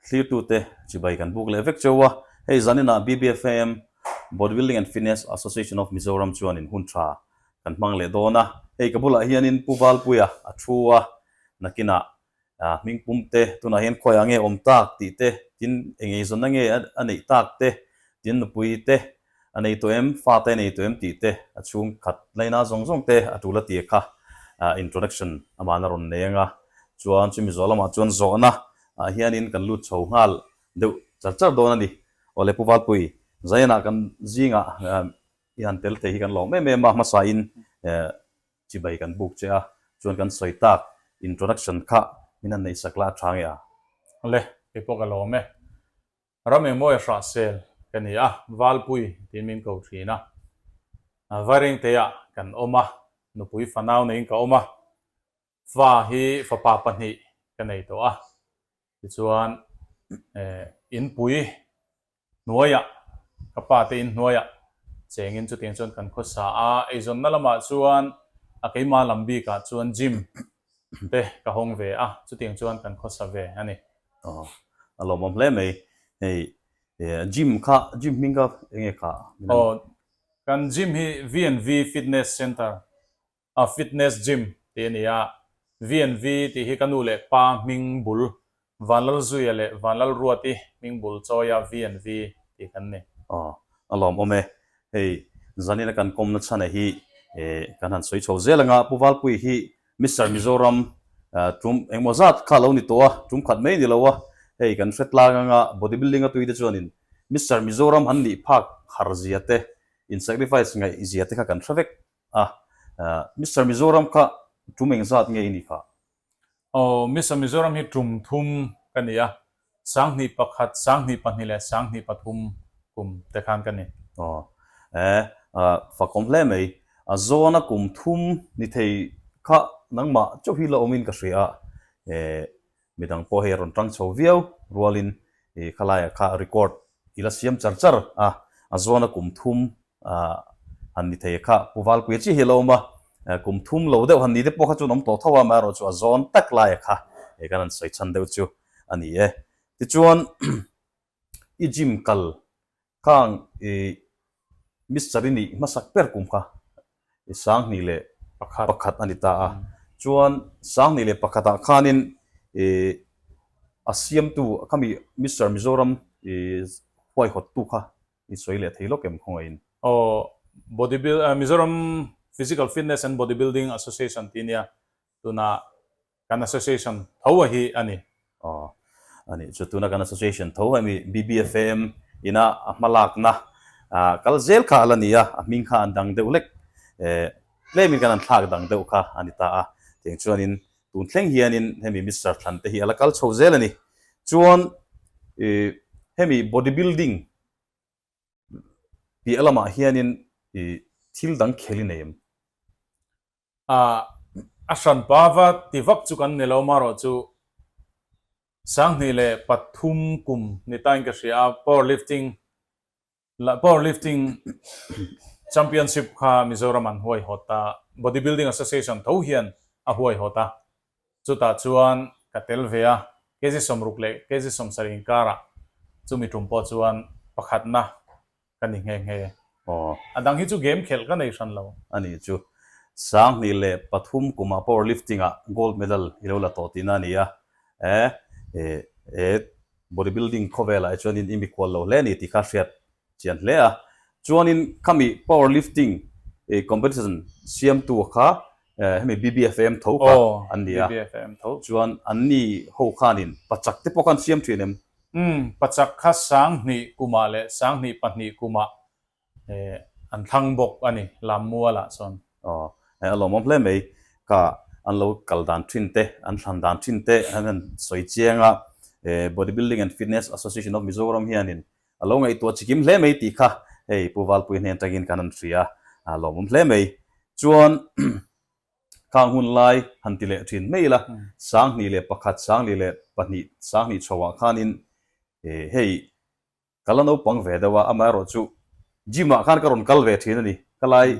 Thlirtute chibai kan buk leh vek cho a, hei zaninah BBFAM, Bodybuilding and Fitness Association of Mizoram, chuanin hun tha kan hmang leh dawn a. Hei ka bulah hianin Pu Valpuia a thu a, nakinah hming pum te, tunah hian khuaia nge awm tak tih te, tin engeizawnna nge a neih tak te, tin nupui te, A nei tawh em? Fate a nei tawh em? tih te a chhung khat hlei na zawng zawng te a tul a ti e kha. Introduction amah na rawn nei ang a, chuan chu Mizo lamah chuan zawhna ah hianin kan lut chho nghal deuh char char dawn a ni. Awle Pu Valpuii, Zaina kan zingah i han tel thei hi kan lawm em em a, hmasain chibai kan buk che a, chuan kan sawi tak Introduction kha min han neihsak la a tha nge a? Awle, kei pawh ka lawm e. Ram engmawia hrah sel ka ni a, Valpuii tiin min ko thin a, Vairengteiah kan awm a, nupui fanau neiin ka awm a, fa hi fapa pahnih ka nei tawh a, tichuan Inpui hnuaiah ka pa te in hnuaiah chengin chutiang chuan kan khawsa a, eizawnna lamah chuan a keima lam bikah chuan gym Te ka hawng ve a, chutiang chuan kan khawsa ve a ni. Aww, a lawmawm hle mai. Hei, gym kha, gym hming kha eng nge kha? Aw, kan gym hi V and V Fitness Centre, a fitness gym tih a ni a. V and V tih hi ka nu leh pa hming bul Vanlal Zuia leh Vanlal Ruati hmingbul chawia VNV tih kan ni. Aw, a lawm awm e. Hei zanina kan kawmna chhana hi kan han sawi chho zel anga, Pu Valpui hi Mister Mizoram tum engemaw zat kha lo ni tawh a, tum khat mai ni lo a, hei kan hre tlang anga bodybuilding a tuite chuanin Mister Mizoram han nih phak har zia te, in sacrifice ngaih zia te kha kan hre vek a, Mister Mizoram kha tum eng zat nge i ni phah? Aw, Miss a Mizoram hi tum thum ka ni a, sanghnih pakhat, sanghnih pahnih leh sanghnih pathum kum te khan ka ni. Aw, eh, fakawm hle mai. A Zona kum thum ni thei kha nangmah chauh hi la awmin ka hria. Eh, midang pawh hei a rawn ṭang chho viau rualin i khalaia kha record i la siam char char a, a Zona kum thum Ahh. Han ni thei kha. Pu Valpuia chiah hi a lo awm a, kum thum lo deuh han ni te pawh kha chuan awm tawh tho a, mah erawh chu a zawn tak laia kha hei kan han sawi chhan deuh chu a ni e. Tichuan i gym kal khang i Mister i nih hmasak ber kum kha i sang hnih leh pakhat a ni ta a, chuan sang hnih leh pakhatah khanin i a siamtu khami Mister Mizoram i huaihawttu kha I sawi leh thei lawk em khawngaihin. Aw, body build ah Mizoram Physical Fitness and Body Building Association tih nia, tunah kan association tho a hi a ni. Aw, a nih chu. Tunah kan association tho a ni. BBFAM ina a hmalakna ah kal zel kha a la ni a, a hming kha an dang deuh hlek. Eh, tlem in kan an thlak dang deuh kha a ni ta a. Tiang chuan in Tun thleng hianin hemi Mister Than te hi a la kal chho zel a ni. Chuan i hemi body building piah lamah hianin i thil dang khel i nei em? Ah, a hran pa va ti vak chu kan ni lo, marawh chu sanghnih leh pathum kum ni tain ka hria a, power lifting Lah Powerlifting Championship kha Mizoram an huaihawt ta, Bodybuilding Association tho hian a huaihawt a, chutah chuan ka tel ve a, KZ Sawmruk leh KZ Sawmsarih inkarah chumi tum pawh chuan pakhatna ka ni nghe nghe. Aw. A dang hi chu game khelh ka nei hran lo. A ni chu. Sanghnih leh pathum kumah Powerlifting-ah Gold Medal i lo la tawh tihna a ni a. E, e, e, Bodybuilding khawvela e chuanin i mikual lo hle a ni tih kha hriat chian hle a. Chuanin khami powerlifting competition siamtu kha hemi BBFAM tho kha an ni a. Chuan an ni ho khanin pachak te pawh khan siam thin em? Pachak kha sanghnih kumah leh sanghnih pahnih kumah Eh, an thlang bawk a ni lam mualah chuan. Aw, eh a lawmawm hle mai. Ka an lo kal dan thin te, an thlan dan thin te an han sawi chiang a. Eh, Bodybuilding and Fitness Association of Mizoram hianin a lo ngaihtuah chikim hle mai tih kha hei Pu Valpuii hnen atangin kan han hria, a lawmawm hle mai. Chuan khang hun lai han ti leh thin mai ila, sanghnih leh pakhat, sanghnih leh pahnih, sanghnih chhoah khanin eh hei Ka la naupang ve deuh a, amah erawh chu gym ah khan ka rawn kal ve thin a ni. Ka lai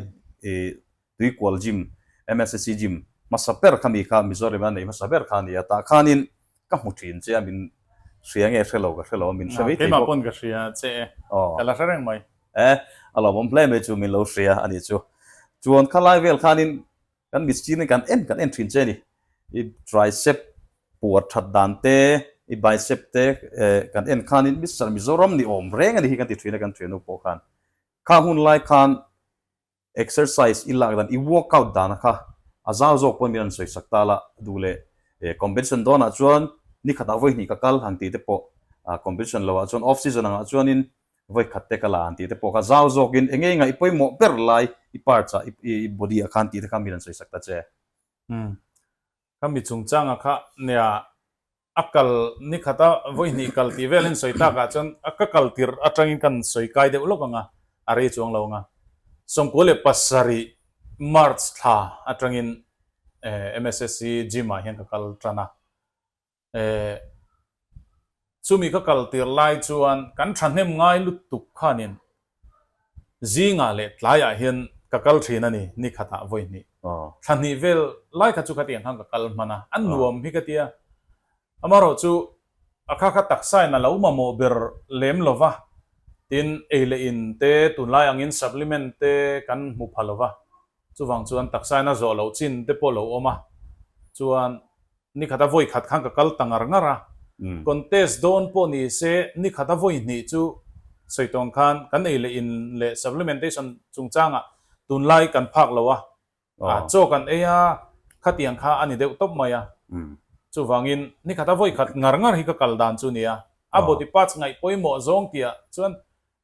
Tuikual Gym, MSSC Gym, hmasa ber kha mi kha Mizorama nei hmasa ber kha a ni a, tah khanin ka hmu thin che a, min hria nge hre lo ka hre lo a, min hre mai thei bawk. Keimah pawn ka hria che e, ka la hre reng mai. Eh, a lawmawm hle mai chu min lo hria a nih chu. Chuan kha lai vel khanin Kan mit stir ni kan en kan en thin che ni. I tricep puar that dan te, i bicep te kan en khan in Mister Mizoram ni awm reng a ni hi kan ti thin a kan ṭhiannu pawh khan. Kha hun lai khan exercise i lak dan, i work out dan a kha a zau zawk pawh min rawn sawi sak ta la, duhleh competition dawn ah chuan ni khatah vawi hnih ka kal ang tih te pawh competition lo ah chuan off season ang ah chuan in vawi khat te ka la ang tih te pawh kha zau zawkin enge inga i pawimawh ber lai i parts ah i body ah khan tih te kha min rawn sawi sak ta che. Umm ka mi chungchang ah kha nia a kal ni khat a vawi hnih kal tih vel in sawi tak ah chuan a ka kal tirh atang in kan sawi kai deuh lawk ang a, a rei chuang lo ang a. Sawmkua leh pasarih March thla atang in MSSC gym ah hian ka kal tan a. Eh. Chumi ka kal tir lai chuan kan thahnem ngai lutuk khanin zingah leh tlaiah hian ka kal thin a ni, nikhatah vawihnih. Thlahnih vel lai kha chu khatiang khan ka kal hman a, a nuam hi ka tia, amarawh chu a kha kha taksain a lo mamawh ber lem lo va, tin ei leh in te tunlai angin supplement te kan hmu pha lo va. Chuvang chuan taksa in a zawh loh chin te pawh lo awm a, chuan nikhat a vawi khat khan ka kal ta ngar ngar a, contest dawn pawh ni se nikhat a vawi hnih chu sawi tawn khan kan ei leh in leh supplementation chung chang ah tun lai kan phak lo a, a chaw kan ei a, khatiang kha a ni deuh tawp mai a, chuvang in nikhat a vawi khat ngar ngar hi ka kal dan chu nia, a body parts ngaih pawimawh zawng tih ah chuan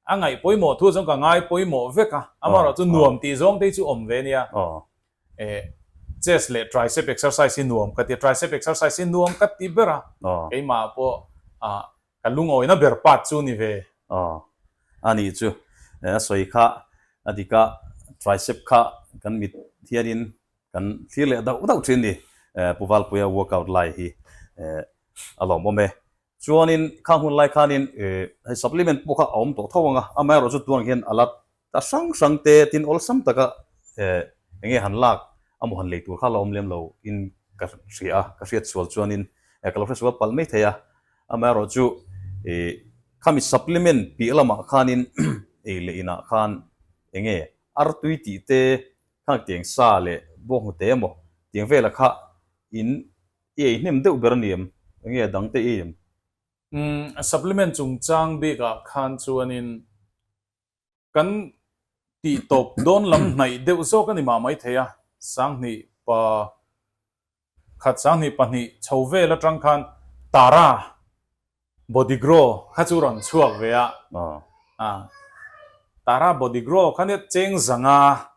A ngaih pawimawh thu chuan ka ngai pawimawh vek a, amaherawh chu nuam tih zawng te hi chu awm ve a nia. Eh, chest leh tricep exercise hi nuam ka ti a, tricep exercise hi nuam ka ti ber a, keimah pawh a ka lungawina ber part chu ni ve. A ni chu, eh a sawi kha a dik a, tricep kha kan mit hianin kan thlir leh dauh dauh thin a ni, eh Pu Valpuia workout lai hi eh a lawmawm e. Chuanin khang hun lai khanin eh hei supplement pawh kha a awm tawh tho ang a, amah erawh chu tunang hian a la ta hrang hrang te tin awlsam taka eh enge han lak amaw han lei tur kha a la awm lem lo in ka hria a, ka hriat sual chuanin eh ka lo hre sual palh mai thei a, amah erawh chu eh khami supplement piah lamah khanin ei leh inah khan enge artui tih te khang tiang sa leh bawnghnute emaw tiang vela kha in I eihnem deuh ber ni em? Enge a dang teh em? Umm, supplement chungchang bikah khan chuanin kan tih tawp dawn lam hnaih deuh zawk a ni mah mai thei a, sanghnih pa khat, sanghnih pahnih chho vel atang khan Tara Body grow kha chu rawn chhuak ve a, Tara body grow kha nge cheng zanga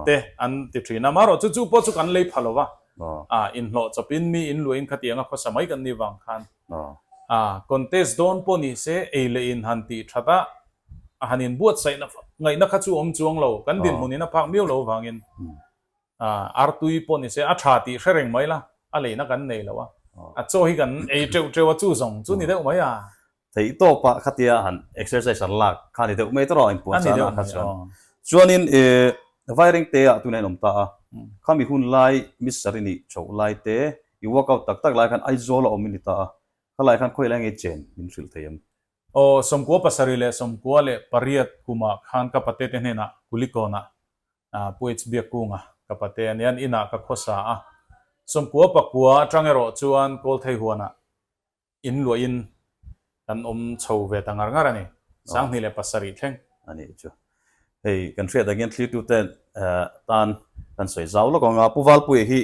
te an ti thin a, marawh chu chu pawh chu kan lei pha lo va, inhlawh chawp in mi in luahin khati anga khawsa mai kan nih vang khan contest dawn pawh ni se ei leh in han tih that a, a han inbuatsaih ngaihna kha chu awm chuang lo, kan dinhmun in a phak miau lo vangin Artui pawh ni se, a tha tih hre reng mai la, a leina kan nei lo a, a chaw hi kan ei teuh teuh a, chu zawng chu ni deuh mai a. Theih tawp a, khatia han exercise han lak kha ni deuh mai tawrh a, inpuan sa na kha chuan. Chuanin e, vai reng te ah tunah i awm ta a, kha mi hun lai mi sarih nih chhoh lai te, i work out tak tak lai khan Aizawl a awm i ni ta a, kha lai khan khawilah i ngei chen min hrilh thei em? Aw, sawmkua pasarih leh sawmkua leh pariat kumah khan ka pate te hnenah Kulikawnah Puic biakunga ka pate a nia, an inah ka khawsa a. Sawmkua pakua atang erawh chuan Kawlthei huanah in luahin kan awm chho ve ta ngar ngar a ni. Sanghnih leh pasarih thleng. A nih chu. Hei kan hriat dangin thliritute tan kan sawi zau lawk ang a. Pu Valpuia hi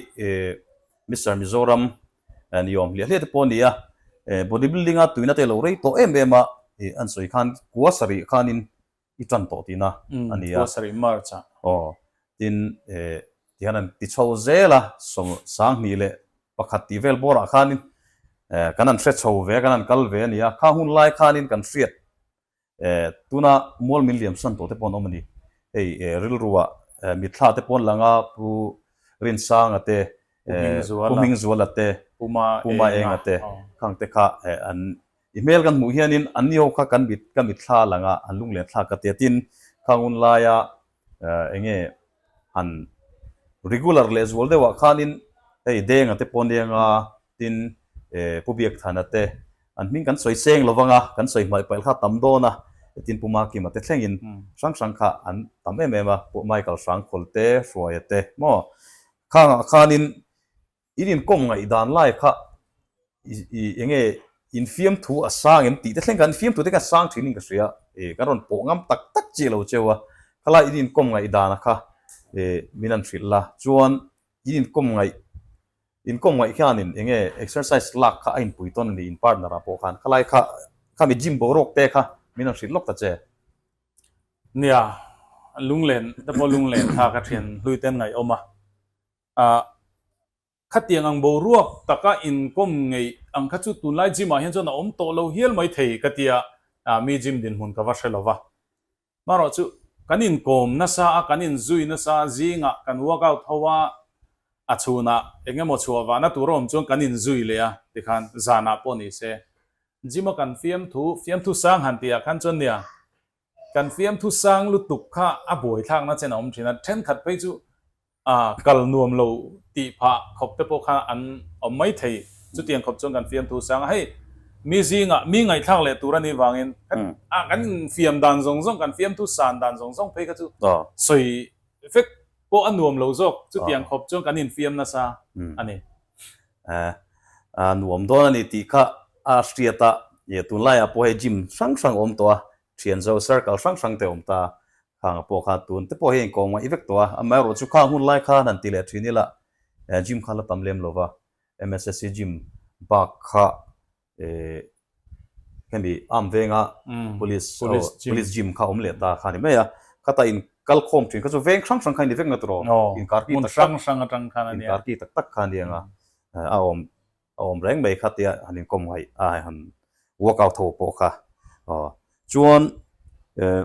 Mister Mizoram ni awm hliah hliah te pawh a ni a. Bodybuilding a tuina te lo rei tawh em em a, an sawi khan kua sarih khanin I tan tawh tih na a ni a. Thua sarih March ah. Aw. Tin he tihian an ti chho zel a, sawm sang hnih leh pakhat tih vel bawr ah khanin kan han hre chho ve a, kan han kal ve a ni a. Kha hun lai khanin kan hriat tuna mual min liam san tawh te pawh an awm a ni. Hei rilru ah Mitthla te pawh an lang a, Pu Rinsanga te, Pu Hmingzuala te, Pu Maenga te, khang te kha an. I hmel kan hmuh hian in an nio kha kan mit ka mitthla lang a an lunglen thlak ka tia tin kha ngun lai a eh enge han regular leh zual deuh ah khan in hei denga te pawh nia nga tin eh pu biakthana te an hming kan sawi seng lo vang a kan sawi hmai pail kha tam dawn a tin pu makima te thleng in hrang hrang kha an tam em em a pu michael hrangkhawl te hruaia te maw khang ah khan in In inkawm ngaihdan lai kha i eng nge in fiamthu a sang em tih te thleng kha, in fiamthu te kha a sang thin in ka hria a, e kan rawn pawh ngam tak tak chiah lo cheu a, khalai in inkawm ngaihdana kha e min han hrilh la, chuan in inkawm ngaih inkawm ngaih hianin eng nge exercise lak kha a inpui tawn a ni in partner ah pawh khan, khalai kha khami gym boruak te kha min han hrilh lawk ta che. Nia, lunglen te pawh lunglen kha ka thian hluitem ngaihawm a, A khatiang ang boruak taka inkawm ngeih ang kha chu tunlai gym ah hian chuan a awm tawh lo hial mai thei ka tia a mi gym dinhmun ka va hre lo va. Marawh chu kan inkawm nasa a kan inzui nasa a zingah kan workout ho a a chhunah engemaw chhuah vahna tur awm chuan kan inzui leh a tikhan zanah pawh nise gym a kan fiam thu fiam thu sang han tihah khan chuan nia Kan fiamthu sang lutuk kha a buaithlakna chen a awm thin a, thenkhat phei chu a kal nuam lo tih phah khawp te pawh kha an awm mai thei. Chutiang khawp chuan kan fiamthu sanga hei mi zinga mi ngaihthlak leh tur a nih vangin a kan infiam dan zawng zawng, kan fiamthu san dan zawng zawng phei kha chu sawi vek pawh a nuam lo zawk, chutiang khawp chuan kan infiam nasa a ni. a nuam dawn a ni tih kha a hriat a, ih tunlaiah pawh hei gym hrang hrang a awm tawh a, thian zo circle hrang hrang te a awm ta a, khang pawh kha tun te pawh hi a inkawng mai vek tawh a, amah erawh chu khang hun lai khan han ti leh thin ila, gym kha la tam lem lova, MSSC gym bak kha Eh, hemi arm venga police police gym kha awm leh ta kha a ni mai a, khata in kal khawm thin kha chu veng hrang hrang kha a ni vek na tur aw, inkarki tak tak, hmun hrang hrang atang khan a ni a, inkarki tak tak kha a ni ang a, a awm a awm reng mai kha tia han inkawm nghaih a, han workout ho pawh kha aw chuan eh.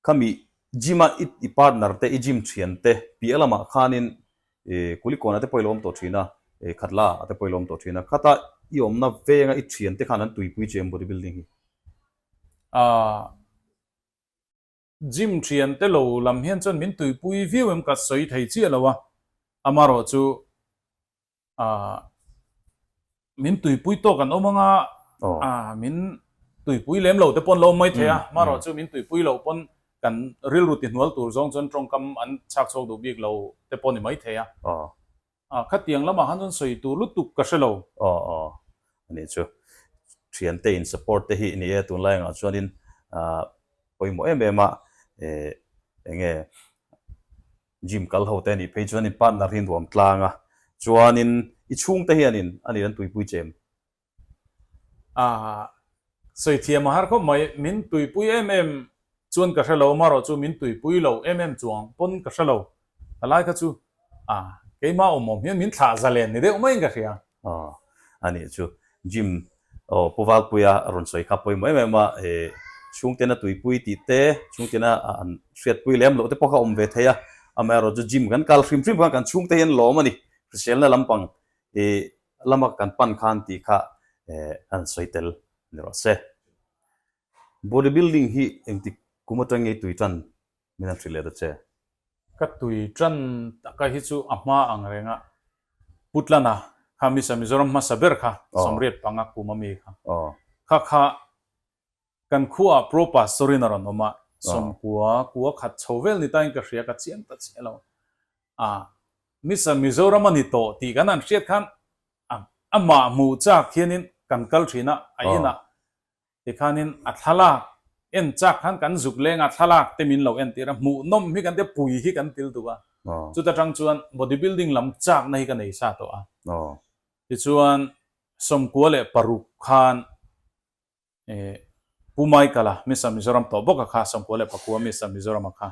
Khami gym-a i partner te, i gym thian te, piah lamah khanin Kulikawn ate pawh i la awm tawh thin a, Khatla ate pawh i la awm tawh thin a, khata i awmna venga i thian te khan an tuipui che em body building hi. Aah, gym thian te lo lam hian chuan min tuipui viau em ka sawi thei chiah lo a, amarawh chu Ahh min tuipui tawk an awm ang a, ahh min tuipui lem lo te pawh an lo awm maithei a, marawh chu min tuipui lo pawn kan rilru ti hnual tur zawng chuan tawngkam an chhak chhuak duh bik lo te pawh ni maithei a, ahh khatiang lamah han rawn sawi tur lutuk ka hre lo. Aww aww a nih chu, thiante in support te hi i ni e, tunlai angah chuanin ahh pawimawh em em a, ehh eng nge Gym kal ho te nih phei chuan in partner hi nuam tlang a, chuanin i chhung te hian in a nih an tuipui chem. Ahh Sawithiam a har khawp mai, min tuipui em em chuan ka hre lo, marawh chu min tuipui lo em em chuang pawn ka hre lo, a lai kha chu ahh keimah awm awm hian min thlah zalen ni deuh maiin ka hria. Aw a nih chu Jim aw Pu Valpuia a rawn sawi kha pawimawh em em a, he chhungtena tuipui tih te chhungtena an hriatpui lem loh te pawh kha awm ve thei a, amah erawh chu Jim kan kal hrim hrim khan kan chhungte hi an lawm a ni, hriselna lampang hi lama kan pan khan tih kha a rawn sawi tel ni rawh se. Bodybuilding hi engtik kum atangei tui tan Min a tih leh ta che. Ka tui tan taka hi chu a hma ang reng a, Putlan a kha Miss a Mizoram hmasa ber kha Samriat panga kum a mi kha kha kha kan khua ah Pro Pastor in a rawn awm a, sawmkua kua khat chho vel ni tain ka hria ka chiang ta che lo a, Miss a Mizoram a ni tawh tih kan han hriat khan amah hmuh chak hian in kan kal thin a, a inah Tikhanin a thlalak en chak khan kan zuk lenga thlalak te min lo en tir a, hmuh nawm hi kan tia pui hi kan til duh a, chuta tang chuan body building lam chakna hi ka nei sa tawh a. Tichuan sawmkua leh paruk khan Pu Michael-a, Miss a Mizoram tawh bawka kha, sawmkua leh pakua Miss a Mizoram a kha.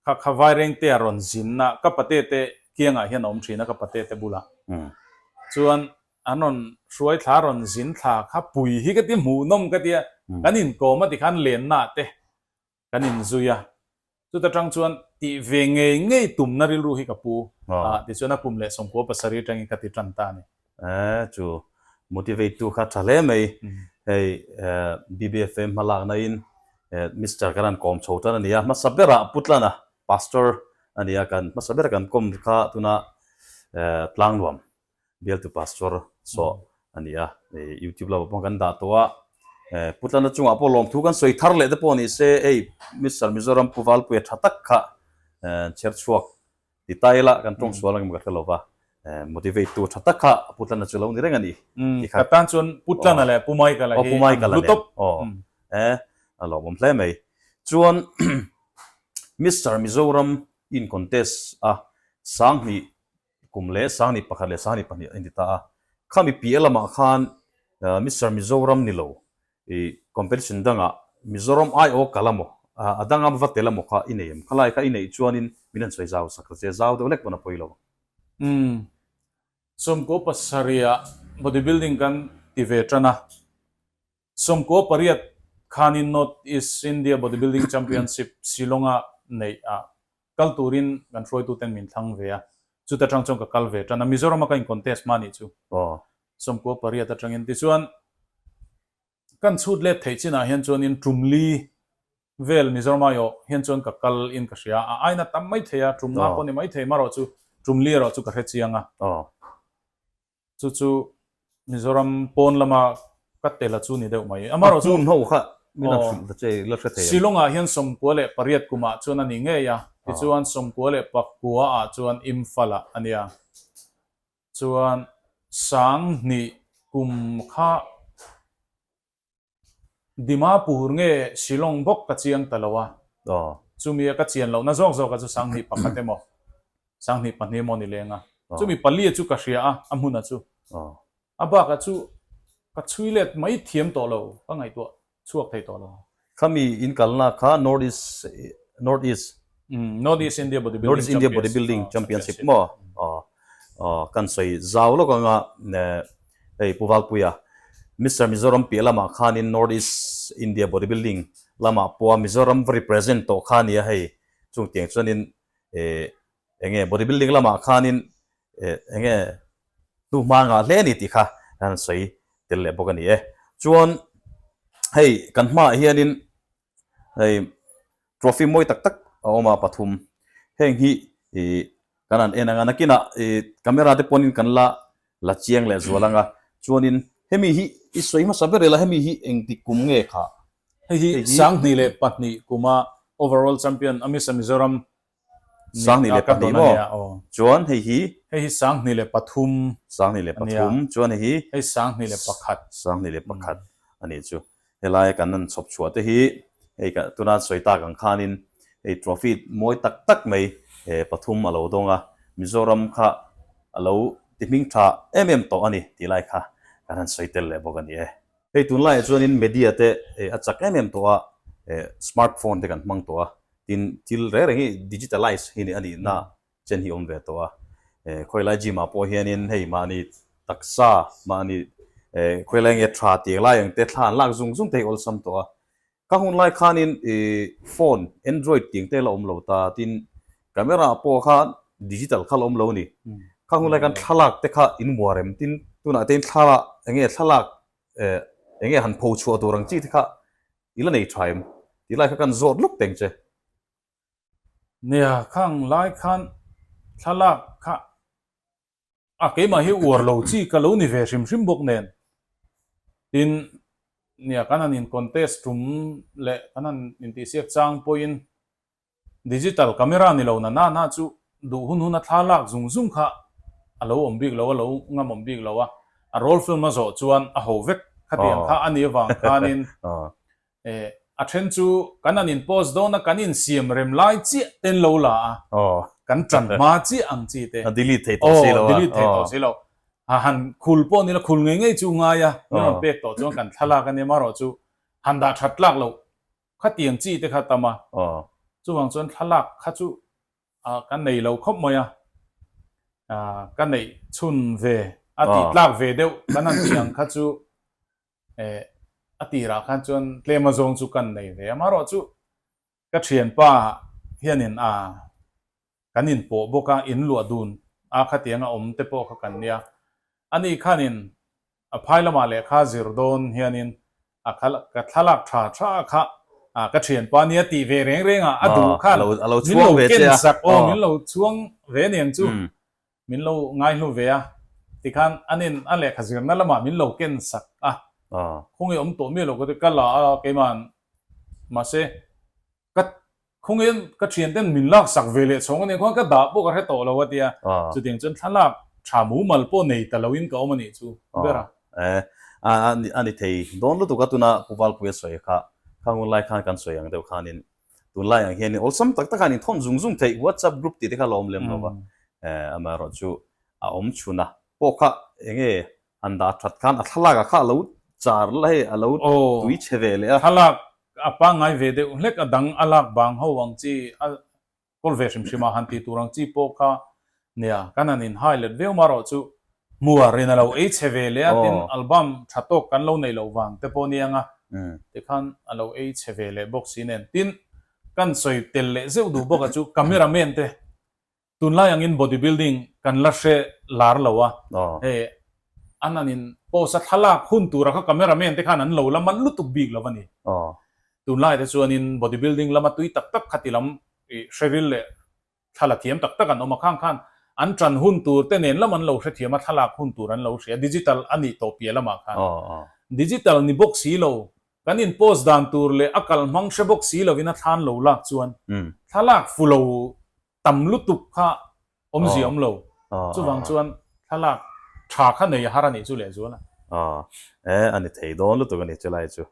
Kha kha Vairengtea rawn zimna ka patete kiangah hian a awm thin a, ka patete bulah. Chuan an rawn hruai thla a rawn zin thla kha pui hi ka ti hmuhnawm ka ti a, kan inkawm a tikhan lennaah te kan inzui a. Chuta tang chuan tih ve ngei ngei tumna rilru hi ka pu, tichuan a kum leh sawmkua pasarih atangin ka ti tan ta a ni. Eee chu motivate tu kha tha hle mai hei BBFA hma lak na in Mister kan an kawm chho tan a nia hmasa ber ah pu tlan a pastor a nia kan hmasa ber kan kawm kha tuna Tlangnuam bialtu pastor sawh a nia hei YouTube lama pawh kan dah tawh a pu tlan a chungah pawh lawm thu kan sawi thar leh te pawh ni se hei Mister Mizoram pu Valpuia tha tak kha chher chhuak Ti ta ila kan tawng sual angemaw ka hre lova, motivate tu tha tak kha a Pu Tlana chu a lo ni reng a ni. Umm, ti kha. Ka tan chuan Pu Tlana leh Pu Maika la hi an hlu tawp. Aw, Pu Maika la nen. Aw, eh, a lawmawm hle mai. Chuan Mister Mizoram in contest a, sang hnih kum leh sang hnih pakhat leh sang hnih pahnih a inti ta a. Khami piah lamah khan Mister Mizoram ni lo I competition danga Mizoram aiawh ka la maw, a danga va tel a maw kha i nei em? Khalai kha i neih chuanin min han sawi zau sak rese, zau deuh lek pawn a pawi lo. Umm, sawmkua pasarih ah bodybuilding kan ti ve tan a, sawmkua pariat khanin North East India Bodybuilding Championship Shillong ah neih a Kal turin kan hruaituten min thlang ve a, chuta tang chuan ka kal ve tan a, Mizoram a ka in contest hma nih chu. Aw. Sawmkua pariat atangin tichuan kan chhut let theih chinah hian chuan in Tumli vel Mizoram aiawh hian chuan ka kal in ka hria, a aina tam maithei a, tumnga pawh ni maithei marawh chu, Tumli erawh chu ka hre chiang a. Aw. chu chu Mizoram pawn lama ka tel a chu ni deuh mai. Amarawh chu, Shillong-ah hian sawmkua leh pariat kumah chuan a ni ngei a, tichuan sawmkua leh pakuaah chuan Imphal-ah a nia. Chuan Sang hnih kum kha Dimapur nge Shillong bawk ka chiang ta lo a, chumi a ka chian lohna zawk zawka chu sanghnih pakhat emaw sanghnih pahnih emaw ni lenga chumi pali chu ka hria a, a hmuna chu. A bakah chu ka chhui let mai thiam tawh lo, ka ngaihtuah chhuak thei tawh lo. Khami inkalna kha North East, North East. North East India Bodybuilding Championship maw kan sawi zau lawk ang a hei Pu Valpuia Mister Mizoram piah lamah khanin North East India Bodybuilding lamah pawha Mizoram va represent tawh kha nia hei chung tiang chuanin eng nge Bodybuilding lamah khanin eng nge hnu hma nghah hle a ni tih kha kan sawi tel leh bawk a ni e chuan hei kan hmaah hianin hei trophy mawi tak tak a awm a pathum heng hi ih kan han en ang a nakinah ih camera te pawhin kan la la chiang leh zual ang a chuanin hemi hi i sawi hmasa ber ila hemi hi engtik kum nge kha? Hei hi sang hnih leh pahnih kuma overall champion a Miss Mizoram Sang ni leh pahnih maw? Chuan hei hi. Hei hi sang hnih leh pathum. Sang hnih leh pathum. Chuan hei hi. Hei sang hnih leh pakhat. Sang hnih leh pakhat a nih chu. Helai kan rawn chhawp chhuah te hi hei ka tuna sawi tak ang khanin hei trophy mawi tak tak mai he pathum a lo dawng a, Mizoram kha a lo ti hming tha em em tawh a ni tih lai kha kan han sawi tel leh bawk a ni e. Hei tun laiah chuanin media te a chak em em tawh a, smart phone te kan hmang tawh a, tin thil reng reng hi digitalize hi a nihna chen hi a awm ve tawh a, Khawilaia gym ah pawh hianin hei mahni taksa, mahni Khawilai nge tha tiang lai ang te thla an lak zung zung te hi awlsam tawh a, Ka hun lai khanin i phone android tih engte la awm lo ta tin camera pawh kha digital kha la awm lo ni. Ka hun lai khan thlalak te kha in mua rem tin tunah tein thlalak enge thlalak enge han pho chhuah tur ang chi te kha i la nei tha em ti lai kha kan zawt lup teng che. Nia, ka hun lai khan thlalak kha a keimah hi uar lo chi ka lo ni ve hrim hrim bawk nen tin nia kan han in contest tum leh kan han in tih siak chang pawhin digital camera ni lo na na na chu duh hun hun a thla lak zung zung kha a lo awm bik lo a lo ngamawm bik lo a a role film a zawh chuan a ho vek khatiang kha a nih avang khanin E, a then chu kan an in post dawn a, kan in siam rem lai chiah ten lo la a, kan tan hma chiah ang chi te. A delete thei tawh si lo a. Aw, delete thei tawh si lo. A han khul pawh ni lo, khul ngei ngei chu ngai a, kan rawn pek tawh chuan kan thlalak a nia, marawh chu han dah that tlak lo, khatiang chi te kha tam a, chuvang chuan thlalak kha chu a ka nei lo khawp mai a, a ka neih chhun ve, a tih tlak ve deuh kan han tih ang kha chu Eh, a tirah khan chuan tlema zawng chu kan nei ve a, marawh chu ka thianpa hianin a kan inpawh bawk a, in luah dun a khatianga awm te pawh kha kan nia, ani khanin a phai lamah lehkha zir dawn hianin a kha ka thlalak tha tha kha a ka thianpa nia tih ve reng reng a, a duh khan min lo ken zak aw, min lo chhuang ve niang chu. Min lo ngaihlu ve a, tikhan an in a lehkha zirna lamah min lo kensak a. Khung i awm tawh mi lo ka ti, ka la a keimah an, mahse, ka khung i ka thian ten min laksak ve leh chhawng a nih khuan ka dah pawh ka hre tawh lo a ti a. Chutiang chuan thlalak tha mumal pawh nei ta lo in ka awm a nih chu ber a. A ni thei dawn lutuk a, tuna Pu Valpuia sawi kha, Khanghun lai khan kan sawi ang deuh khanin tunlai ang hian awlsam tak taka an inthawn zung zung theih whatsapp group tih te kha alawm lem lova amaherawh chu a awm chhun a pawh kha enge han dah that khan a thlalak a kha alo char la hei alo tui chhe ve leh a thlalak a pangngai ve deuh hlek a dang a lak bang ho ang chi a kawl ve hrim hrim a han ti tur ang chi pawh kha nia kan han in hai let viau marawh chu hmu a rin a lo ei chhe ve leh a tin album tha tawk kan lo nei loh vang te pawh ni ang a ti khan a lo ei chhe ve leh bawk si nen tin kan sawi tel leh zeuh duh bawk a chu camera men te tun lai ang in body building kan la hre lar lo a hei an han in pose a thlalak hun tur a kha camera men te khan an lo la man lutuk bik lo a ni. Tunlai te chuanin bodybuilding lama tui tak tak kha tilam hreril leh thla la thiam tak tak an awm a, khang khan an ṭan hun tur te nen lam an lo hrethiam a, thlalak hun tur an lo hria, digital a nih tawh piah lamah khan digital ni bawk si lo, kan in post dan tur leh a kal hmang hre bawk si lovin a thlan lo lak chuan thlalak fu lo tam lutuk kha awm zia awm lo, chuvang chuan thlalak tha kha nei a har a nih chu leh zual a. Aw e, a ni thei dawn lutuk a ni chu lai chu.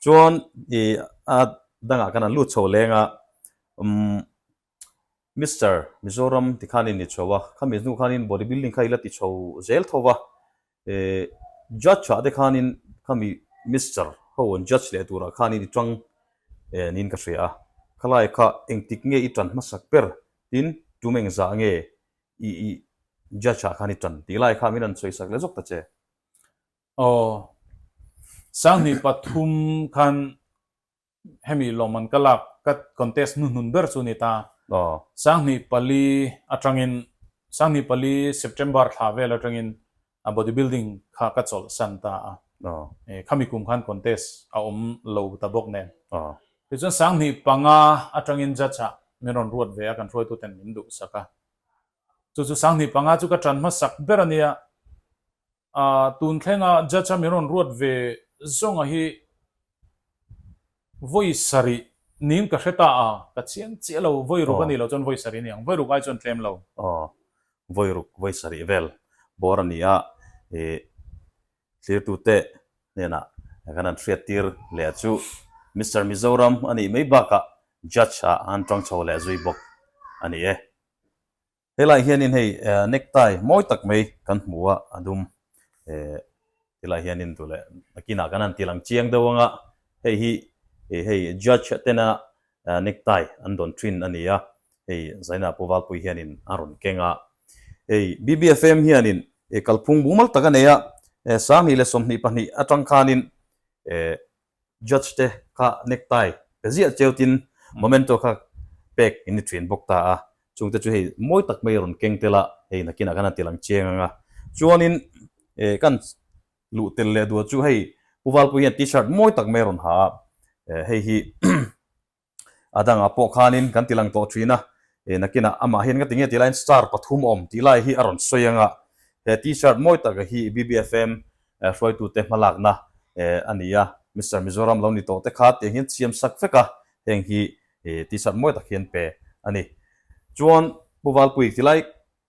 Chuan i a dangah khan an lut chho leng a, umm Mister, Mizoram tikhanin ni chho a, khami hnu khanin bodybuilding kha i la ti chho zel tho va, E, judge thah te khanin khami Mister ho an judge leh turah khanin i tang e niin ka hria a. Khalai kha engtik nge i tan hmasak ber tin tumeng zah nge i i judge ah khan i tan tih lai kha min rawn chawihsak leh zawk ta che. Aw, sanghnih pathum khan Hemi lawm an ka lak ka contest hnuhnun ber chu ni ta. Sanghni pali atangin, Sanghni pali September thla vel atangin body building kha ka chawlh san ta a. E, khami kum khan contest a awm lo ta bawk nen. Tichuan Sanghni panga atangin judge ah min rawn ruat ve a, kan hruaitu ten min duhsak a. Chu chu Sanghni panga chu ka tan hmasak ber a nia. A tun thlenga judge a min rawn ruat ve zawnga hi vawi sarih niin ka hre ta a, ka chiang chiah lo, vawi ruk a nih loh chuan vawi sarih a ni ang, vawi ruk ai chuan tlem lo. Aw, vawi ruk, vawi sarih vel bawr a ni a, i thlirtute hnenah kan han hriat tir leh chu Mister Mizoram a nih mai bakah judge-a an ṭang chho leh zui bawk a ni e. Helai hianin hei necktie mawi tak mai kan hmu a, a dum. Eh, tilai hianin duh leh nakinah kan han tih lang chiang deuh ang a, hei hi hei judge tena necktie an dawn thin a ni a, hei Zaina Puvalpui hianin a rawn keng a. Hei BBFM hianin kalphung mumal tak a nei a, sangni leh sawmhnih pahnih atang khanin eh, Judge te kha necktie ka ziah cheu tin momento kha pek in i ṭhin bawk ta a, chung te chu hei mawi tak mai a rawn keng tel a, hei nakin ah khan a tilang cheng ang a. Chuanin ka han luh tel leh duh chu hei Pu Valpuii hian T-shirt mawi tak mai a rawn ha a, hei hi a dangah pawh khanin kan tilang tawh thin a, e nakinah amah hian ka ti nge tih lahin star pathum a awm tih lai hi a rawn sawi ang a, he t-shirt mawi taka hi BBFM hruaitute hmalakna a ni a, Mister Mizoram lo ni tawh te kha tiang hian siam sak vek a, heng hi t-shirt mawi tak hian pe a ni. Chuan Pu Valpuii ti lai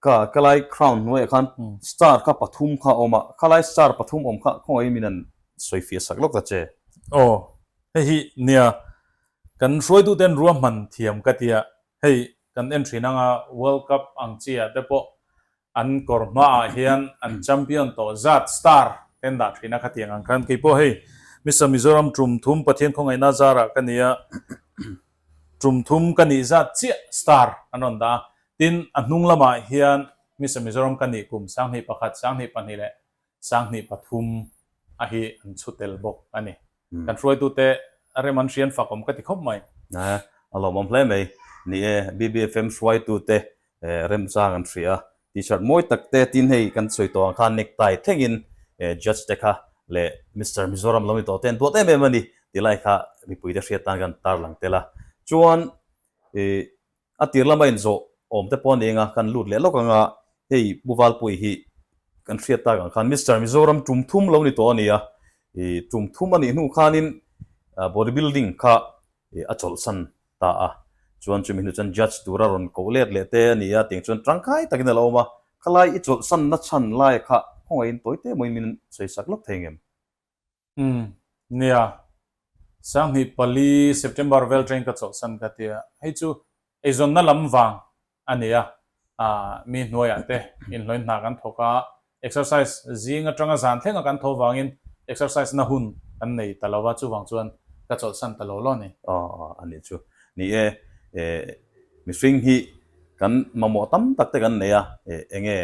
Ka Kalai Crown hnuaiah khan star kha pathum kha awm a, Kalai star pathum awm kha khawngaiin min han sawi fia sak lawk ta che. Aw, hei hi nia, kan hruaituten ruahman thiam ka tia, hei kan en thin anga World Cup ang chiah te pawh an kawr hmaah hian an champion tawh zat star ten dah thin a kha tiang ang khan keipawh hei Mister Mizoram Tum Thum Pathian khawngaihna zara ka nia, Tum Thum ka nih zat chiah star an rawn dah a, Tin, a hnung lamah hian Hmisa Mizoram ka nih kum sanghnih pakhat, sanghnih pahnih leh sanghnih pathum a hi an chhu tel bawk a ni. Kan hruaitute rem an hrian fak awm ka ti khawp mai. A lawmawm hle mai. Ni e, BBFM hruaitute rem chang an hria. T-shirt mawi tak te, tin hei kan sawi tawh ang khan necktie thlengin Judge te kha leh Mister Mizoram lo ni tawh ten duat em em a ni ti lai kha mipuite hriat tan kan tarlang tel a. Chuan A tir lama inzawh awm te pawh a neng a, kan lut leh lawk anga hei Bu Valpuii hi kan hriat tak ang khan Mister Mizoram tum thum lo ni tawh a nia, i tum thum a nih hnu khanin Body Building kha a chawlhsan ta a, chuan chumi hnu chuan Judge tura rawn koh let leh te a nia, tiang chuan tangkai takin a lo awm a, khalai i chawlhsanna chhan lai kha khawngaih in tawite mawiin min sawisak lawk thei ngem. Umm. Nia. Sanghnih pali September vel train ka chawlhsan ka tia. Hei chu eizawnna lam vang a ni a. Aah mi hnuaiah te inhlawin hna kan thawk a, exercise zing atanga zan thlenga kan tho vangin exercise na hun kan nei ta lo a, chuvang chuan ka chawlhsan ta lo lo a ni. Aah aah a ni chu. Ni e. Eh. Mihring hi kan mamawh tam tak te kan nei a, eh enge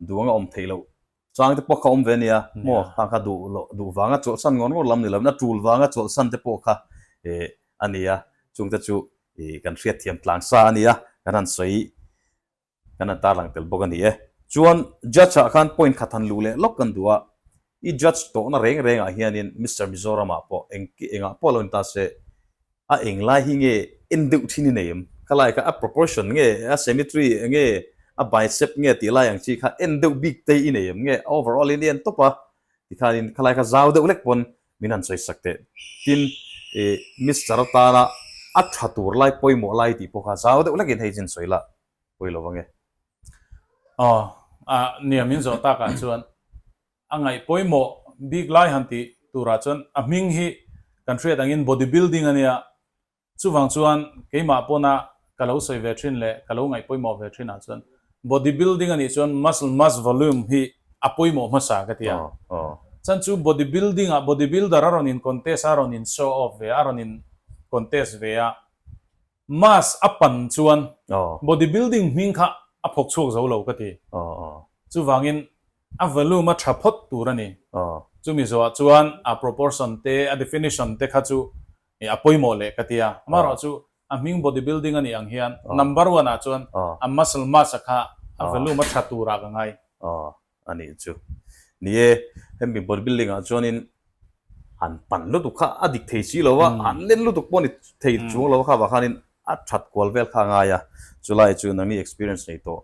duang a awm theih loh Chang te pawh kha awm ve a nia, maw? Tang kha duh loh, duh vanga chawlhsan ngawt ngawt lam ni loin a tul vanga chawlhsan te pawh kha eh a nia, chungte chu ih kan hriatthiam tlang sa a nia, kan han sawi, kan han tarlang tel bawk a ni e. Chuan Judge-a khan point khat han luh leh lawk kan duh a, i Judge tawhna reng rengah hianin Mister Mizoram-ah pawh eng engah pawh lo in ta se, A eng lai hi nge en deuh thin i nei em? Ka lai kha a proportion nge, a symmetry nge, a bicep nge tih lai ang chi kha en deuh bik tei i nei em? Nge overall in i en tawp a? Ti khanin kha lai kha zau deuh lek pawn min han sawi sak teh. Tin, i Mister tana a tha tur lai pawimawh lai tih pawh kha zau deuh lek in hei chin sawi la pawilo va nge. Aw, a niam in zawh tak ah chuan A ngaih pawimawh bik lai han tih turah chuan a hming hi kan hriat angin body building a nia. Chuvang chuan keimah pawna ka lo sawi ve thin leh ka lo ngaih pawimawh ve thinah chuan body building a nih chuan muscle mass volume hi a pawimawh hmasa ka ti a. Chuan chu body building ah body builder a rawn in contest a, a rawn in show off ve a, a rawn in contest ve a, mass a pan chuan body building hming kha a phawk chhuak zo lo ka ti. Chuvangin A volume a tha phawt tur a ni. Chu Mizoah chuan a proportion te, a definition te kha chu a pawimawh leh ka tia. Amaherawh chu a hming bodybuilding a nih ang hian number one ah chuan a muscle mass a kha a volume a tha turah ka ngai. A nih chu. Ni e, hemi bodybuilding ah chuanin han pan lutuk kha a dik thei si lo a, han len lutuk pawh a ni thei chuang lo a kha vah khanin. A that kual vel kha a ngai a, chu lai chu nangni experience nei tawh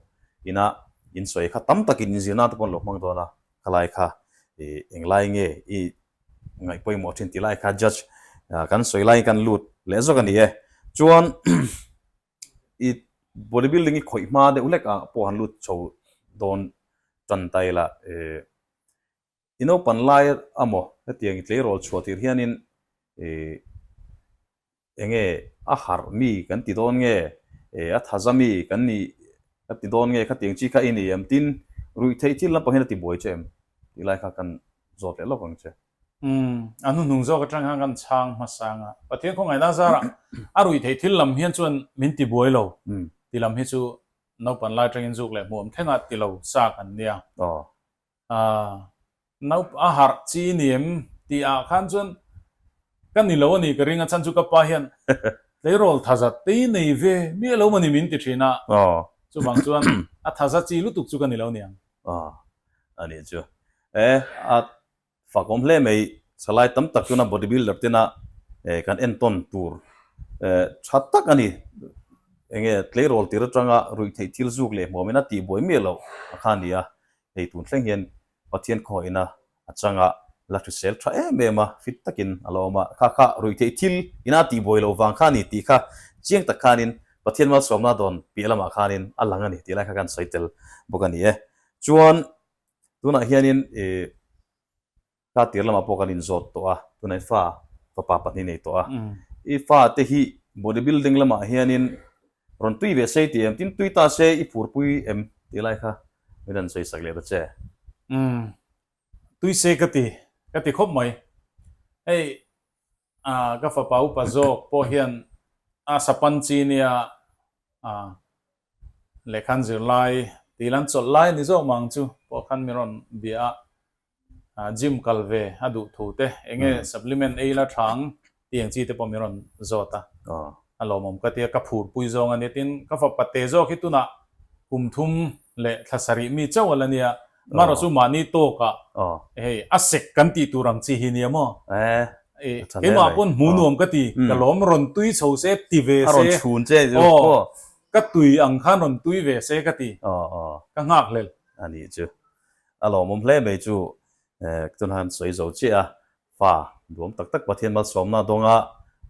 inah insawi kha tam takin in zirna te pawh an lo hmang dawn a, khalai kha i eng lai nge i ngaih pawimawh thin ti lai kha judge kan sawi lai kan lut leh zawk a ni e, chuan i body building i khawih hma deuh hlekah pawh han lut chho dawn tan ta ila e. I naupan lai a maw hetiang i tleirawl chhuah tir hianin e enge a harh mi kan ti dawn nge e a thaza mi kan ni ka ti dawn nge khatiang chi kha i ni em tin ruihtheih thil lampangin a ti buai che em tih lai kha kan zawt leh lawk ang che. Umm a hnuhnung zawk atang hian kan chhang hmasa ang a, Pathian khawngaihna zara a ruihtheih thil lam hian chuan min ti buai lo ti lam hi chu naupan lai atangin zuk leh hmuh awm thlenga ti lo sa kan nia. Aah, naup a harh chi ni em? tih ah khan chuan Ka ni lo a ni ka ring a chhan chu ka pa hian Tleirawl thaza tei nei ve miah lo mani min ti thin a, chuvang chuan A thaza chi lutuk chu ka ni lo niang. Aah, a nih chu e, a fakawm hle mai salai tam tak chuan a body builder tena e kan en tawn tur e tha tak a ni enge Tleirawl tir atanga ruih theih thil zuk leh hmuamin a tihbuai miah loh a kha a ni a, Hei tun thleng hian Pathian khawiahna a changa la hrisel tha em em a, fit takin a la awm a. Kha kha ruih theih thil ina tih buai lo vang kha a ni tih kha chiang tak khanin Pathian malsuamna dawn piah lamah khanin a lang a ni tih lai kha kan sawi tel bawk a ni e. Chuan tunah hianin i. Ka tir lamah pawh kan inzawt tawh a, tunah i fa fapa pahnih nei tawh a. I fate hi bodybuilding lamah hianin rawn tui ve sei tih em? Tin tui ta se i furpui em? tih lai kha min rawn sawisak leh ta che. Umm, tui se ka ti, ka ti khawp mai. Hei, A, ka fapa upa zawk pawh hian a sapan chi nia, a, lehkhan zirlai tih ila an chawlh lai ni zawk mang chu pawh khan min rawn bia a, a, gym kal ve a duh thu te, eng nge supplement ei ila tha ang tih eng chi te pawh min rawn zawt a, a lawmawm ka tia ka phur pui zawng ania, tin ka fapa te zawk hi tunah kum thum leh thla sarih mi chauh ala nia, Mara chu mahni tawkah hei a sek kan tih tur ang chi hi nia maw? Keimah pawn hmu nuam ka ti, ka lawm rawn tui chho se ti ve se, aw ka tui ang khan rawn tui ve se ka ti, ka nghak hlel. A nih chu, a lawmawm hle mai chu, tunah khan sawi zo chiah a, Fa, duam tak tak Pathian malsawmna dawnga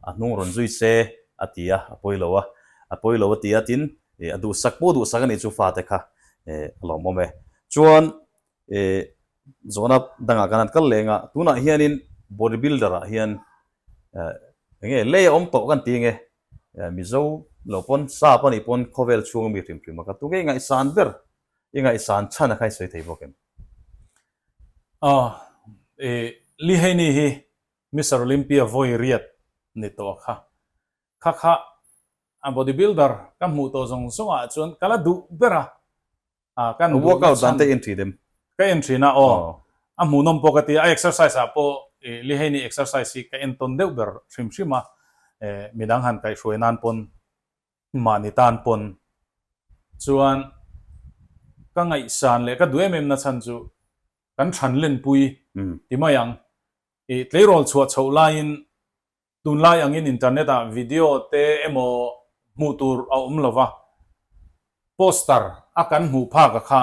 a hnung rawn zui se a ti a, a pawi lo a, a pawi lo a ti a tin e a duhsak pawh duhsak a nih chu fate kha e a lawmawm e. Chuan e zawhna dangah kan han kal leng a, tunah hianin body builder ah hian e eng nge lei a awm tawh kan ti nge e Mizo lo pawn sa panih pawn khawvel chhunga mi hrim hrim a ka tu ngei ngaihsan ber i ngaihsan chhan a khai sawi thei bawk em. Aw, i Li Heini hi Mister Olympia vawi riat ni tawh a kha. Kha kha a bodybuilder ka hmuh tawh zawng zawngah chuan ka la duh ber a, a ka an duhna chhan. Workout dante en thin em? Ka en thin a, aw. A hmuhnawm pawh ka ti a, a exercise ah pawh i Li Heini exercise hi ka en tawn deuh ber hrim hrim a, midang han kaihhruai nan pawn Mahni tan pawn chuan ka ngaihsan leh ka duaim emna chhan chu kan thran lenpui ti mai ang. I tleirawl chhuah chhoh laiin tunlai angin internet ah video te emaw hmuh tur a awm lo va, poster a kan hmuh phak a kha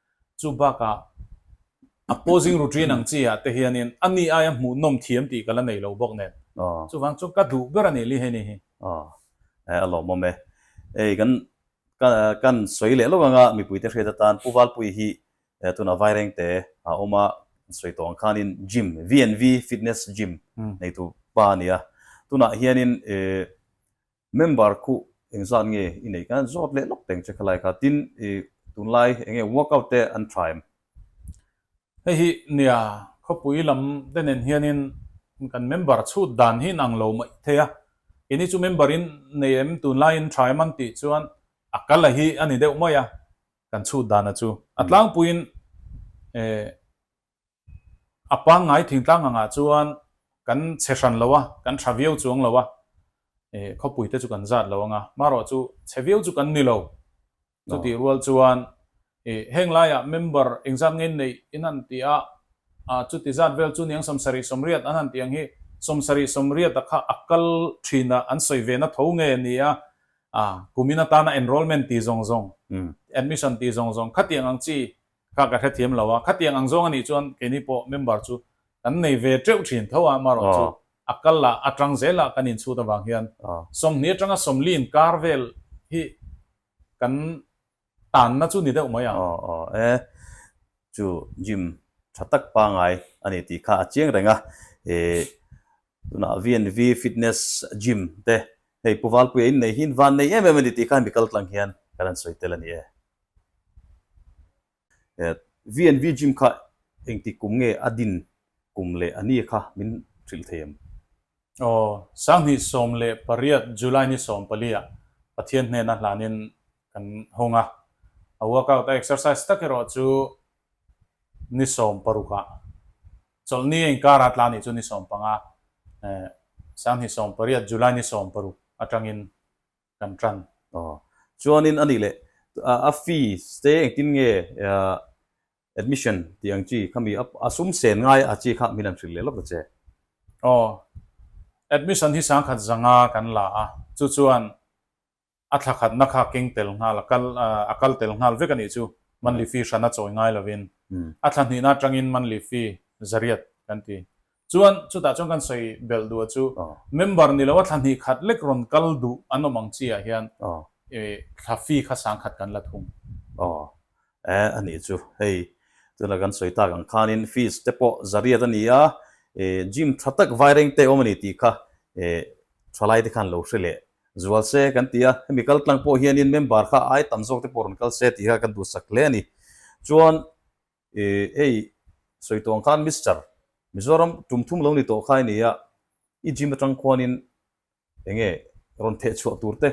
Chu bakah a paw zing ru ṭin ang chi ah te hianin a ni aia hmuh nawm thiam tih ka la nei lo bawk nen. Chuvang chuan ka duh ber a ni Li Heni hi. Aw, a lawmawm e. Ei, kan kan sawi leh lo ang a, mipui te hriat atan Pu Valpuii hi tunah vaireng te a awm a, kan sawi tawh ang khanin gym, VNV Fitness Gym nei tur pa a ni a. Tunah hianin Member khuh eng zan nge i neih kan zawt leh lawk teng che kha like a tin i tunlai eng nge work out te an tha em? Hei hi nia khawpui lam te nen hian in kan member chhut dan hi in ang lo mawih thei a i ni chu member in nei em tunlai in tha em an tih chuan a kal a hi a ni deuh mawih a kan chhut dan a chu a tlangpui in eh A pangngai thingtlang angah chuan kan chhe hran lo a, kan tha viau chuang lo a, khawpui te chu kan zat lo ang a, marawh chu chhe viau chu kan ni lo. Chutih rual chuan heng laiah member eng zat ngei neih in han ti a, chuti zat vel chu Niang Sawmsarih Sawmriat an han tih ang hi, Sawmsarih Sawmriata kha a kal thinah an sawi ve na tho nge nia, kumin atana enrolment tih zawng zawng, admission tih zawng zawng khatiang ang chi Kha ka hrethiam lo a, khatiang ang zawng a nih chuan keini pawh member chu kan nei ve teuh thin tho a, amarawh chu a kal a, a tang zel a kan inchhut avang hian sawmhnih atanga sawmli inkar vel hi kan tanna chu ni deuh mai ang. Aw aw e, chu Jim tha tak pangai a ni tih kha a chiang reng a, e Tunah VNV Fitness Gym te hei Puvalpuia innei hi'n van nei em em a ni tih khan mi kaltlang hian kan han sawi tel a ni e. VNV Gym kha engti kum nge a din kum leh a ni kha min hrilh thei em? Aw, Sanghnih sawm leh pariat July ni sawm paliah Pathian hnena hlanin kan hawng a. A workout a exercise tak erawh chu ni sawm parukah Chawlhni a inkara tla ni chu ni sawm panga eh Sanghnih sawm pariat July ni sawm paruk atangin kan tan. Aw. Chuanin a nih leh, a fees te engtin nge admission tih ang chi kha mi a sum sen ngai a chi kha min an hrilh leh lawk ta che. Aw. Admission hi sangkhat zanga kan la a, chu chuan A thlakhatna kha keng tel nghal a kal a kal tel nghal vek a nih chu Man Lifi hrana chawi ngai lovin a thla hnihnaa tangin Man Lifi Zariat kan ti. Chuan chutah chuan kan sawi belh duh a chu member ni loa thla hnih khat lek rawn kal duh an awm ang chiah hian thla fee kha sang khat kan la thung. Aw eh a nih chu hei tunah kan sawi tak ang khanin fees te pawh Zariat a ni a, gym tha tak Vairengte awm a ni tih kha thalai te khan lo hre leh Zual se kan ti a, hemi kal tlang pawh hianin member kha ai tam zawk te pawh rawn kal se tih kha kan duh sak hle a ni. Chuan i hei Sawitawng khan Mister, Mizoram tum thum lo ni tawh khai ni a, i gym atang khuanin eng nge rawn theh chhuah tur te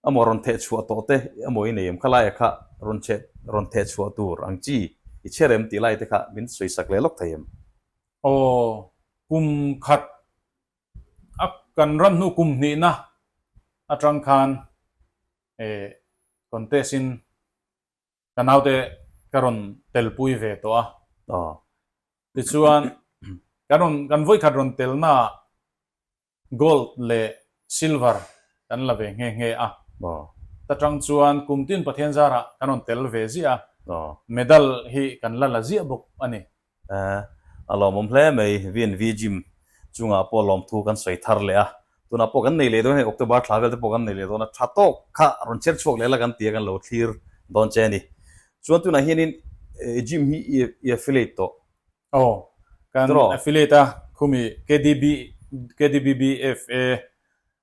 emaw rawn theh chhuah tawh te emaw i nei em kha laia kha rawn che rawn theh chhuah tur ang chi i chhe rem tih lai te kha min sawi sak leh lawk thei em? Aw, kum khat A kan ran hnu kum hnihna atang khan eh contest in ka naute ka rawn telpui ve tawh a, tichuan kan rawn kan vawikhat rawn telna ah gold leh silver kan la ve nghe nghe a, ta tang chuan kum tin pathian zara kan rawn tel ve ziah a, medal hi kan la la ziah bawk a ni. Aa, a lawmawm hle mai. VNV Gym chungah pawh lawmthu kan sawi thar leh a. Tunah pawh kan nei leh dawn a, hei October thla vel te pawh kan nei leh dawn a. Tha tawk kha rawn chher chhuak leh la kan tia kan lo thlir dawn che a ni. Chuan tunah hianin Gym hi i affiliate tawh. Aw, kan affiliate a, khumi KDB, KDBBFA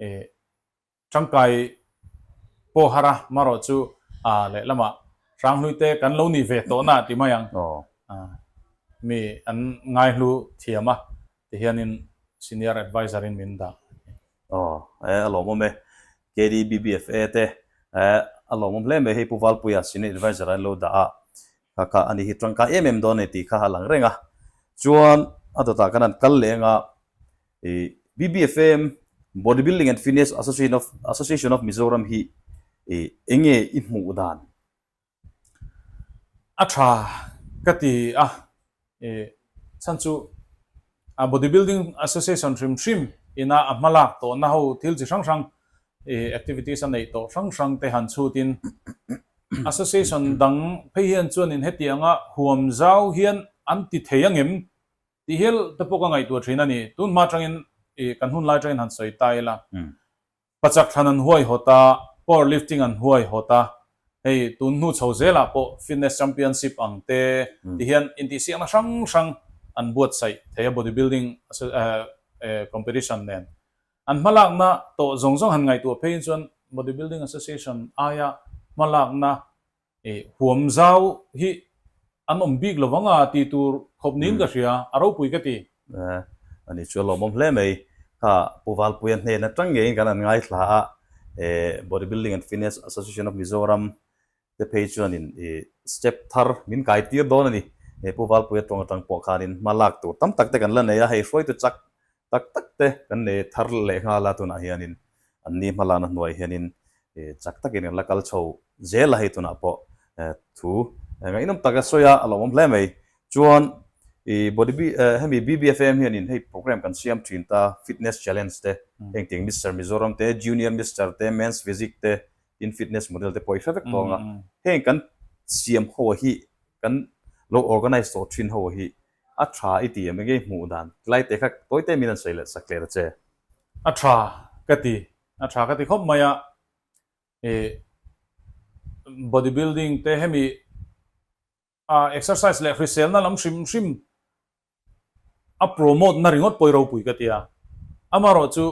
E tangkai Pohara marawh chu a lehlama Hranghlute kan lo ni ve tawh na ti mai ang mi an ngaihlu thiam a ti hianin Senior Adviser in min dah. Aw e a lawmawm e KDBBFA te a lawmawm hle mai hei Pu Valpuia Senior Adviser an lo dah a kha kha ani hi tangkai em em dawn a ni tih kha a lang reng a chuan a dawtah kan han kal leh ang a. BBFM Body Building and Fitness Association of Association of Mizoram hi enge i hmuh dan a tha ka ti a chhan chu Body Building Association hrim hrim ina a hma lak tawh na ho thil chi hrang hrang activities a neih tawh hrang hrang te han chhut in Association dang phei hian chuan in hetianga huam zau hian an ti thei a ngem Tihel te pawh ka ngaihtuah thin a ni. Tun hma atangin ih kan hun lai atangin han sawi ta ila, pachak thlan an huai hawt a, power lifting an huai hawt a, hei tun hnu chho zelah pawh fitness championship ang te ti hian intihsiakna hrang hrang an buatsaih thei a, body building competition nen an hma lakna tawh zawng zawng han ngaihtuah phei in chuan body building association aia hma lakna Huam zau hi an awm bik lo vang a tih tur khawp niin ka hria, a ropui ka ti. A ni chu a lawmawm hle mai. Kha Pu Valpuia hnen atang ngeiin kan an ngaithla a, he Bodybuilding and Fitness Association of Mizoram te phei chuanin step thar min kaitir dawn a ni. He Pu Valpuia tawng atang pawh khanin hma lak tur tam tak te kan la nei a, hei hruaitu chak tak tak te kan nei thar leh nghal a, tunah hianin an ni hma lana hnuai hianin chak takin kan la kal chho zel a, hei tunah pawh thu ngaihnawm taka sawi a, a lawmawm hle mai. Chuan hemi BBFAM hianin hei programme kan siam thin ta, fitness challenge te, heng tiang Mister Mizoram te, Junior Mister te, Men's Physique te, tin fitness model te pawh i hre vek tawng a, heng kan siam ho hi, kan lo organise tawh thin ho hi, A tha i ti em engei hmuh dan tlai te kha tawite min han sawi leh sak hle ta che. A tha ka ti, a tha ka ti khawp mai a, he body building te hemi ah exercise leh hriselna lam hrim hrim a promote na ringawt pawh i ropui ka ti a, amarawh chu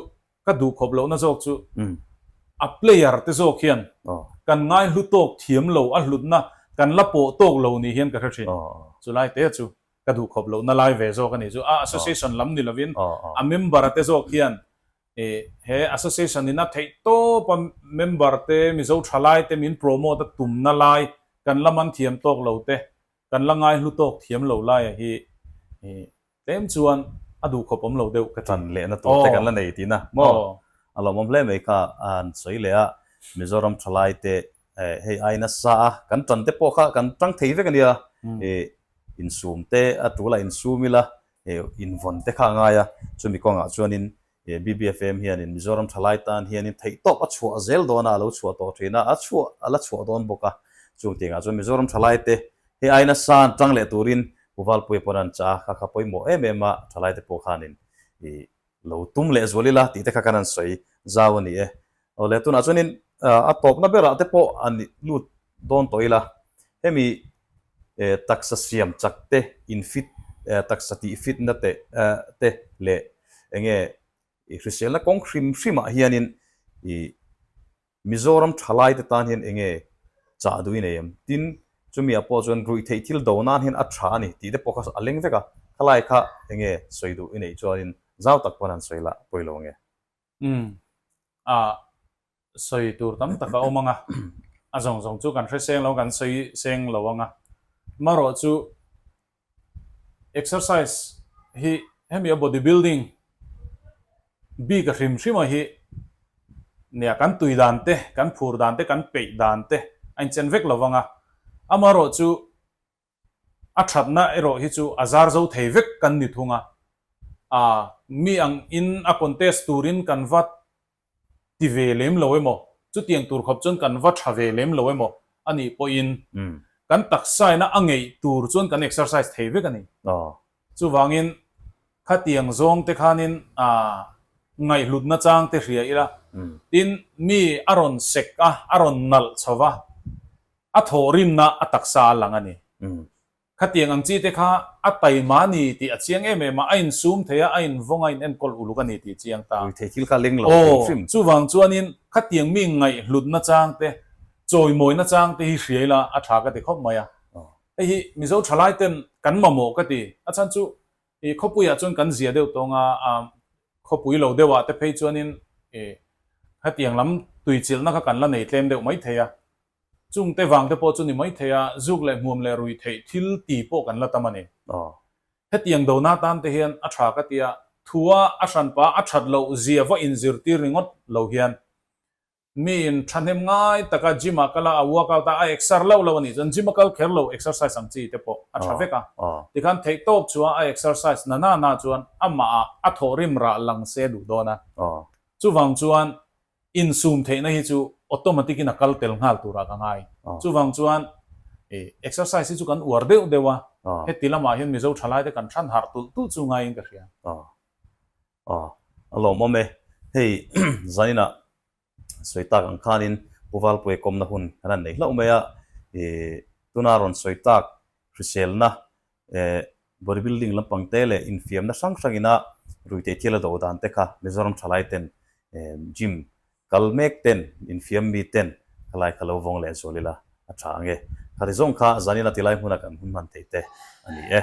Ka duh khawp lohna zawk chu a player te zawk hian kan ngaihlu tawk thiam lo a hlutna kan la pawh tawk lo nih hian ka hre thin. Chulai te chu ka duh khawp lohna lai ve zawk a nih chu. A association lam ni lovin a member te zawk hian he association in a theih tawpa member te, Mizo tha lai te min promote a tumna lai kan la man thiam tawk lo te Kan la ngaihlu tawk thiam lo laia hi tlem chuan a duh khawp awm lo deuh ka ti. Tan lehna tur te kan la nei tina maw? A lawmawm hle mai kha an sawi leh a, Mizoram thalai te hei ai nasa a, kan tan te pawh kha kan tang thei vek a nia, insum te a tul a insum ila invawn te kha a ngai a, chumi kawngah chuanin He BBFM hianin Mizoram thalai tan hianin theih tawp a chhuah zel dawnah a lo chhuah tawh thin a, a chhuah a la chhuah dawn bawk a. Chung tihngah chuan Mizoram thalaite he aina san tang leh turin Uvalpuia pawn an chah a, kha kha pawimawh em em a, thalaite pawh khanin ih lo tum leh zual ila tihte kha kan han sawi zau a ni e. Awle, tunah chuanin a tawpna berah te pawh a nih lut dawn tawh ila, hemi taksa siam chak te, infit, taksa tih fitna te te leh eng nge i hriselna kawng hrim hrimah hianin i Mizoram thalaite tan hian eng nge chah duh i nei em? Tin, chumiah pawh chuan ruihtheih thil do nan hian a tha a ni tih te pawh kha a leng vek a, khalaia kha eng nge sawi duh i neih chuanin zau tak pawn an sawi la, pawi lo nge. Umm. Ah. Sawi tur tam tak a awm ang a, a zawng zawng chu kan hre seng lo, kan sawi seng lo ang a. Marawh chu exercise hi hemi a body building bika hrim hrima hi nia kan tui dan te, kan phur dan te, kan peih dan te a inchen vek lo ang a. Amarawh chu A thatna erawh hi chu a zar zo thei vek kan ni thung a, aa mi ang in a contest turin kan va ti ve lem lo emaw, chutiang tur khawp chuan kan va tha ve lem lo emaw anih pawhin kan taksaina a ngeih tur chuan kan exercise thei vek a ni. Chuvangin, khatiang zawngte khanin ngaihlutna changte hria ila, tin, mi a rawn sek a, a rawn nalh chho va, a thaw rinna a taksa a lang a ni. Khatiang ang chite kha a tai mahni tih a chiang em em a, a insum thei a, a invawng a, a inenkawl uluk a ni tih a chiang ta. Ui thei thil kha leng lo hrim hrim. Aw, chuvang chuanin khatiang mi ngaihlutna changte, chawimawina changte hi hria ila a tha ka ti khawp mai a. Hei hi Mizo thalai ten kan mamawh ka ti. A chhan chu i khawpui ah chuan kan zia deuh tawng a, um khawpui lo deuh ah te phei chuan in i hetiang lam tui chilh na kha kan la nei tlem deuh mai thei a. Chung te vang te pawh chu ni mai thei a, zuk leh hmuam leh rui theih thil ti pawh kan la tam a ni. Aw. Hetiang do na tan te hian a tha ka ti a, thu a a hran pa a that loh zia va in zir tir ringawt lo hian Mi in tha hnem ngai taka gym ah kal a, a workout a, a exer lo lo a nih chuan gym a kal kher lo exercise ang chi te pawh a tha vek a. Tikhan theihtawp chuan a exercise na na na chuan amah ah a thaw rim rah lang se duh dawn a. Chuvang chuan insum theihna hi chu automatic in a kal tel nghal tur ah ka ngai. Chuvang chuan exercise hi chu kan uar deuh deuh a, heti lam ah hian Mizo tha lai te kan than harh tulh tulh chu ngai in ka hria. Aw, a lawm awm e. Hei Zaina sawi tak ang khanin Pu Valpuia kawmna hun kan han nei hlauh mai a. I tuna rawn sawi tak hriselna e body building lampang te leh infiamna hrang hrang ina rui teh thial a do dan te kha Mizoram thalai ten e gym kal mek ten infiam mi ten kha lai kha lo vawng leh zual ila a tha ang e. Khati zawng kha Zaina tilai hmuna kan hun hman thei te a ni e.